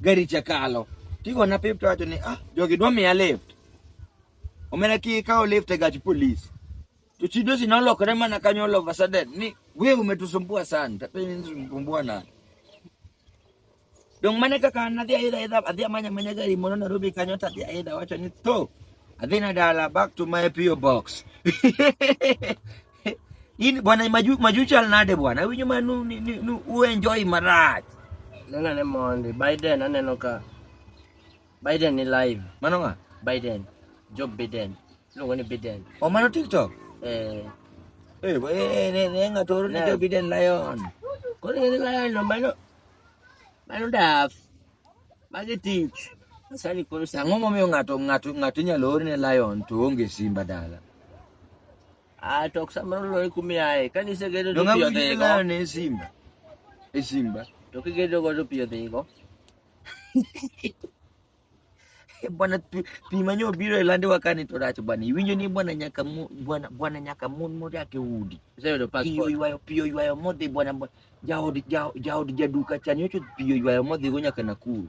gari cha kalo tigona pip to wacho ni ah jogi dwa miya lift omena ki kawo lift e gach polis to chi dosi nolokore mana kanyo all of a sudden ni we umetusumbua sana tapeni nisumbua nani dong mane kaka nadhi aidha aidha adhi amanya manya gari mono Nairobi kanyo tadhi aidha wacho ni to adhi na dala back to my PO box In bwana maju maju chal nade bwana? Awinjo ma nu ni- ni- nu u enjoy marach. Nena ne mondi. Biden aneno ka. Biden ni live. Mano nga? Biden. Joe Biden. Iluongo ni Biden. O mano TikTok. Eh. Eh, bo- eh, ne ne nga toro ni Ne. Joe Biden Lion. Koro ing'e ni lion no mano. Mano daf. Magi tich. Sani koro sa. Ang'o momiyo ng'ato ng'ato ng'ato inyalo orne Lion to onge Simba dala? Ah, to samoro lori kumi ae. Kani ise gedo to piyo dhigo. Donga ne Simba. E Simba. To ki gedo go to piyo dhigo. Eh, bwana pimanyo biro ilande wakani to rach bwana. Iwinjo ni bwana nyaka mu bwana bwana nyaka mun mori ake udi. Sasa ndo passport. Piyo ywayo piyo ywayo modhi bwana bwana. Jaod jaod jaduka chanyo chut piyo ywayo modhi go nyaka Nakuru.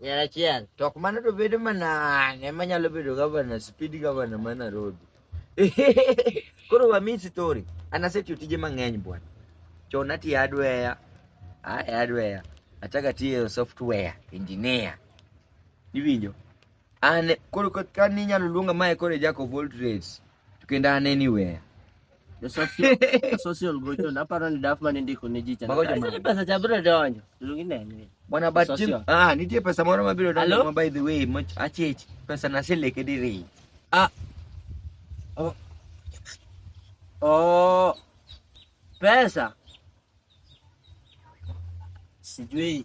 Ng'er achiel. To ok mano to bedo mana ne ma nyalo bedo gavana, speed gavana ma Nairobi. Koro wami story. An asetiyo tije mang'eny bwana. Chon atiyo hardware, ah e hardware. Achako atiyo software engineer. Iwinjo? An koro ka- ka ni inyalo luonga mae koro e jack of all trades. To kendo an anywhere. social gocho naparo ni daf mane ndiko ne ji cha Mago joma- Sasa pesa cha biro donjo luongi nene Bwana but Social. Jim- ah nitie pesa moro mabiro donjo Hello? ma by the way moch achich pesa na sileke diri. ah oh oh pesa sijui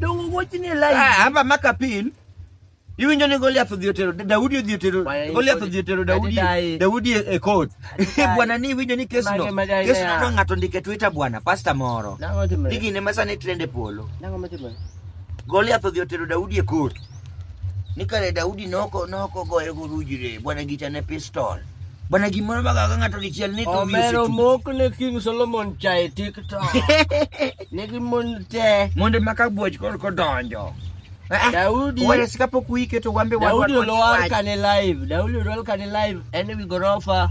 Dongo wuochi ni live. Ah, hapa maka pin iwinjo ni Goliath odhi otero Daudi odhi otero Bwana, Goliath odhi otero Daudi Daudi. Daudi e e court Daudi. bwana ni iwinjo ni kesno Mage, mage, kesno yeah. no ng'ato ndike Twitter bwana pastor moro Nango timore. igine masani trend e polo Nango matimore. Goliath odhi otero Daudi e court ni kare Daudi noko noko goyo goruji re bwana gicha ne pistol bwana gimoro magaga ng'ato dichiel ni to omero wiyo mok ne king solomon chae tiktok nigi mon te monde maka buoch kor kodonjo Daudi- wales kapok wiketo wambe daudi wadwa- olwar kane live daudi olwar kane live en e wi gorofa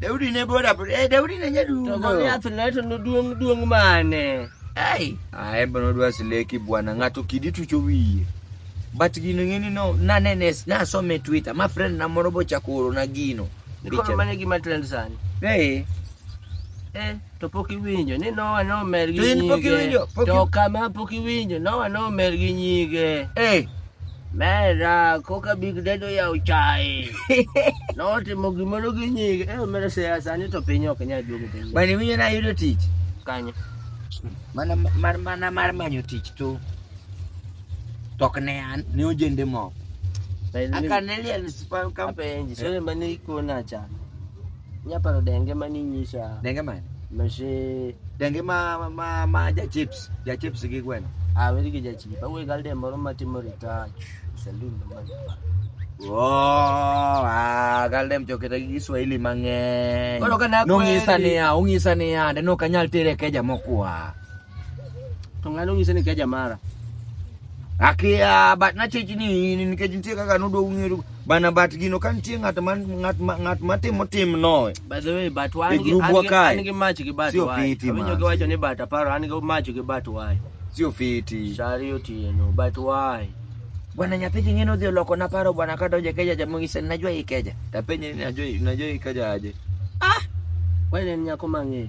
Daudi ne boda boda. Eh, Daudi ne nyadundo. To Goliath ne to noduong' duong' mane? Ai, ae bono dwa sileki bwana ng'ato kidi tucho wiye. But gino ng'eni no nanene nasome Twitter ma friend na moro bochako oro na gino. Nikoro mane gima trend sani. Eh. Eh. to pok iwinjo ni Nowa nomer gi To in pok nyige. iwinjo, pok To i- kama pok iwinjo, Nowa nomer gi nyige. Eh, Mera, koka Big Dad oyawo chae. Notimo gimoro gi nyige. Eh, omera seya sani to piny ok nyal duogo piny. bana iwinjo ni ayudo tich. Kanyo. Mana mar mana mar manyo tich tu. Tok ne an, ne ojende moko. Aka ne liel spam kam Apenji, sore mane ikona cha. Nyaparo denge ma ninyisa. Denge mane? Mashe. Denge ma ma ma, ma ja chips, ja chips gi gweno. Ah, weri gi ja chips. Awe gal de moro matimo retouch. Saloon no man. Oh, ah, gal dem joketa gi Kiswahili mang'eny. Koro ka nakweri. Nong'isa niya, ong'isa niya, de nokanyal tere keja mokwa. To ng'ano ng'ise ni keja mara. Akia bat na chechi ni in nikech nitie kaka nodwa ung'eyo bana bat gino ka nitie ng'at ma ng'at ma ng'at ma timo tim no. By the way, but why E group an gi wakae. an gi match gi bat Sio why? fiti, Awinjo man. giwacho ni bat aparo an gi match gi bat why? Sio fiti. Shari otieno but why? Bwana nyathi king'eno dhi oloko na paro bwana ka donje keja jamongi sen najua ikeja. Tapenye ni najua najua ikeja aje. Why en nyako mang'e?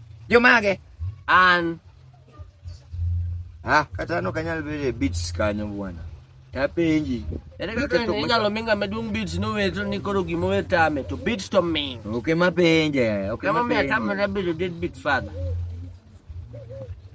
Jomage? An. Ah, kata an ok anyal bedo e beats kanyo bwana. Tapenji. Ere kaka Nikech ok- inyalo mi ng'ama duong' beats noweto ni koro gima owe tame to beats to min. Ok ema penje. Ok Kama ema mi penje. atamre bedo dead beat father.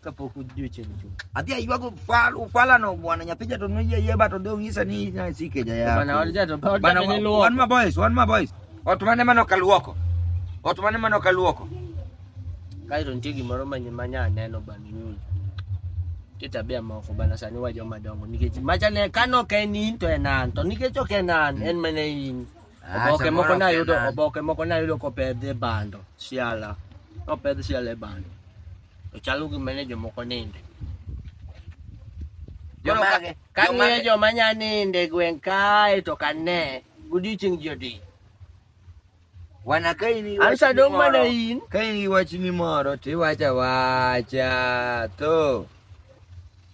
kapok odiochieng' chuth. Adhi aywago fal ufalano bwana nyapija to noyie yie ba to de ong'isa ni na sike ja ya. Bana wan jato ba Bana wan luo. wan ma boys, wan ma boys. Ot mane mano kaluoko. Ot mane mano kaluoko. Kae to nitie gimoro manye manya neno bana nyul. Nitie tabia moko bana sani wa joma dongo nikech macha ne kano ok en in to en an to nikech ok en an en mana in. Ah, Oboke samoro moko ok nayudo en an. oboke moko nayudo kopedh e bando siala. Nopedh siala e bando. to chalo gima ne jomoko ninde. Koro ka- Jomage- ka ng'iyo jomage- joma nya ninde gweng' kae to ka ne godiechieng' ji odi. Wana ka in iwacho Ansa dong' gimoro- mana in. Ka in iwacho ni moro to iwacho awacha to